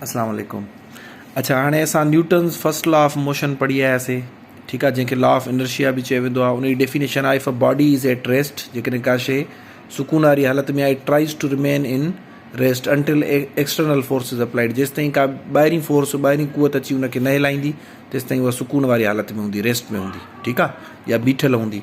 اسلام عليڪم اڇا هاڻي اسان Newton's first law of motion پڙهي آياسي ٺيڪ آ جنهن کي لا آف انرشيا به چيو ويندو آ ان جي ڊيفينيشن آ if a body is at rest جيڪڏهن ڪا شي سڪون واري حالت ۾ آ it tries to remain in rest until external force is applied جيستائين ڪا ٻاهرين فورس ٻاهرين قوت اچي ان کي نه هلائيندي تيستائين اها سڪون واري حالت ۾ هوندي ريسٽ ۾ هوندي ٺيڪ آ يا بيٺل هوندي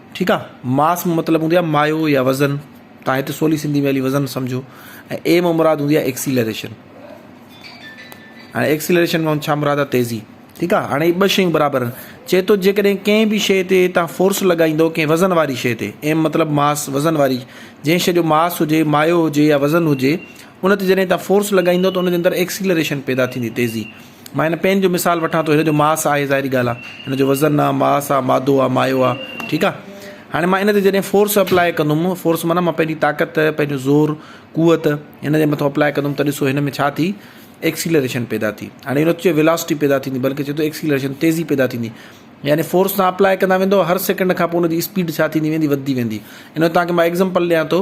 ٺيڪ آ ماس مان مطلب هوندي آ مايو يا وزن تان هت سولي سنڌي ۾ علي وزن سمجهو ۽ اي مان مراد هوندي آ ايڪسيلريشن هاڻي ايڪسيلريشن مان ڇا مراد آ تيزي ٺيڪ آ هاڻي ٻه شيون برابر آهن چي تو جيڪڏهن ڪنهن به شي تي تان فورس لڳائيندو ڪنهن وزن واري شي تي ايم مطلب ماس وزن واري جنهن شي جو ماس هجي مايو هجي يا وزن هجي ان تي جڏهن تان فورس لڳائيندو ته ان جي اندر ايڪسيلريشن پيدا ٿيندي تيزي مان هن پين جو مثال وٺان ٿو هن جو ماس آهي ظاهري ڳالهه آهي هن جو وزن آهي ماس آهي مادو آهي مايو آهي ٺيڪ آهي هاڻي مان هن تي جڏهن فورس اپلاء ڪندم فورس معنيٰ مان پنهنجي طاقت پنهنجو زور قوت هن جي مٿو اپلاء ڪندم ته ڏسو هن ۾ ڇا ٿي ايڪسيلريشن پيدا ٿي هاڻي هن چيو ويلاسٽي پيدا ٿيندي بلڪه چيو ته ايڪسيلريشن تيزي پيدا ٿيندي يعني فورس تان اپلاء ڪندا ويندو هر سيڪنڊ کان پوء هن جي اسپيڊ ڇا ٿيندي ويندي وڌندي ويندي هن تانکي مان ايگزامپل ڏيان ٿو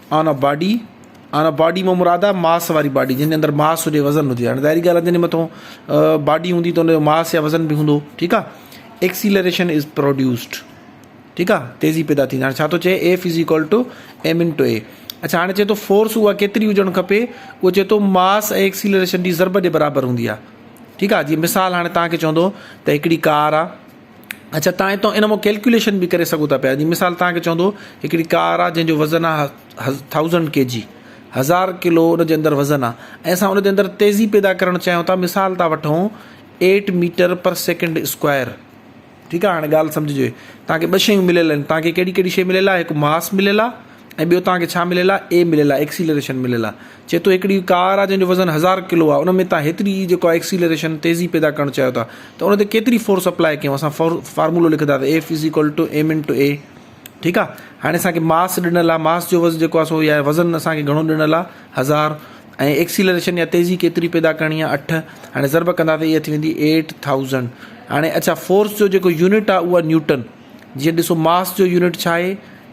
on a body, on a body مان مراد آهي ماس واري باڊي جنهن جي اندر ماس هجي وزن هجي هاڻي ظاهري ڳالهه جنهن جي مٿون باڊي هوندي ته ان جو ماس يا وزن به هوندو ٺيڪ آ ايڪسيلريشن از پروڊيوسڊ ٺيڪ آ تيزي پيدا ٿيندي هاڻي ڇا ٿو چئي F is equal to m into a اڇا هاڻي چئي ٿو فورس اها ڪيتري هجڻ کپي اهو چئي ٿو ماس ۽ ايڪسيلريشن جي ضرب جي برابر هوندي آ ٺيڪ آ جي مثال هاڻي تهان کي چوندو ته هڪڙي ڪار آ اڇا تان اتان ان مان ڪيلڪيوليشن به ڪري سگهو ٿا پيا جي مثال تان کي چوندو هڪڙي ڪار آ جنهن جو وزن آ ٿائوزنڊ ڪي جي هزار ڪلو ان جي اندر وزن آ ۽ اسان ان جي اندر تيزي پيدا ڪرڻ چاهيون ٿا مثال ٿا وٺون eight metre per second square ٺيڪ آ هاڻي ڳالهه سمجهجي تان کي ٻه شيون مليل آهن تان کي ڪهڙي ڪهڙي شي مليل آ هڪ ماس مليل آ ۽ ٻيو توهان کي ڇا مليل آهي؟ اي مليل آهي ايڪسيلريشن مليل آهي چئي ٿو هڪڙي ڪار آهي جنهن جو وزن هزار ڪلو آهي ان ۾ توهان هيتري جي جيڪو آهي ايڪسيلريشن تيزي پيدا ڪرڻ چاهيو ٿا ته ان تي ڪيتري فورس اپلاء ڪيون اسان فارمولو لکنداسين F is equal to m into a ٺيڪ آهي هاڻي اسان کي ماس ڏنل آهي ماس جو وزن جيڪو آهي سو يا وزن اسان کي گهڻو ڏنل آهي هزار ۽ ايڪسيلريشن يا تيزي ڪيتري پيدا ڪرڻي آهي اٺ هاڻي ضرب ڪنداسين ايئ ٿي ويندي ايٽ ٿائوزنڊ هاڻي اڇا فورس جو جيڪو يونٽ آهي اهو آهي نيوٽن جيئن ڏسو ماس جو يونٽ ڇا آهي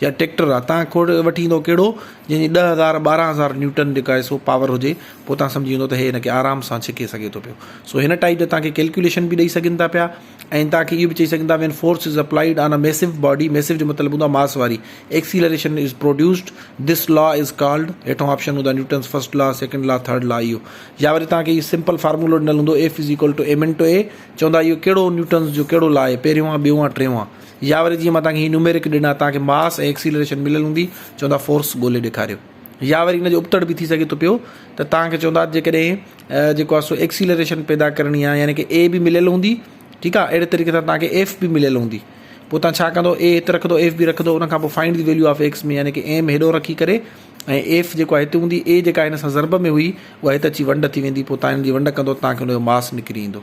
يا ٽيڪٽر آ تان کوڙ وٺي ايندؤ ڪهڙو جنهن جي ڏهه هزار ٻارهن هزار نيوٽن جيڪا آهي سو پاور هجي پوء تان سمجهي ويندؤ ته هي هن کي آرام سان ڇڪي سگهي ٿو پيو سو هن ٽائيپ جا تان کي ڪيلڪوليشن به ڏئي سگهن ٿا پيا ۽ تان کي اهو به چئي سگهن ٿا when force is applied on a ميسو body mass جو مطلب هوندو آهي ماس واري acceleration is produced this law is called هيٺون آپشن هوندا Newton's first law second law third law اهو يا وري تان کي اهو سمپل فارمولو ڏنل هوندو F is equal to m into a چوندا اهو ڪهڙو نيوٽنس جو ڪهڙو لا آهي پهريون آ ٻيون آ ٽيون آ يا وري جيئن مان توهان کي هي نوميرڪ ڏنا توهان کي ماس ۽ ايڪسيلريشن مليل هوندي چوندا فورس ڳولي ڏيکاريو يا وري ان جو ابتڙ به ٿي سگهي ٿو پيو ته توهان کي چوندا جيڪڏهن جيڪو آهي سو ايڪسيلريشن پيدا ڪرڻي آهي يعني ڪي اي به مليل هوندي ٺيڪ آهي اهڙي طريقي سان توهان کي ايف به مليل هوندي پوء توهان ڇا ڪندو اي هت رکندو ايف به رکندو ان کان پوء find the value of x ۾ يعني ڪي ايم هيڏو رکي ڪري ۽ ايف جيڪو آهي هتي هوندي اي جيڪا هن سان ضرب ۾ هئي اها هت اچي ونڊ ٿي ويندي پوء توهان هن جي ونڊ ڪندو توهان کي ان جو ماس نڪري ايندو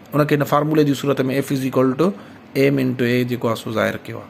ان کي هن فارمولي جي صورت ۾ F is equal to m into a جيڪو آهي سو ظاهر ڪيو آهي.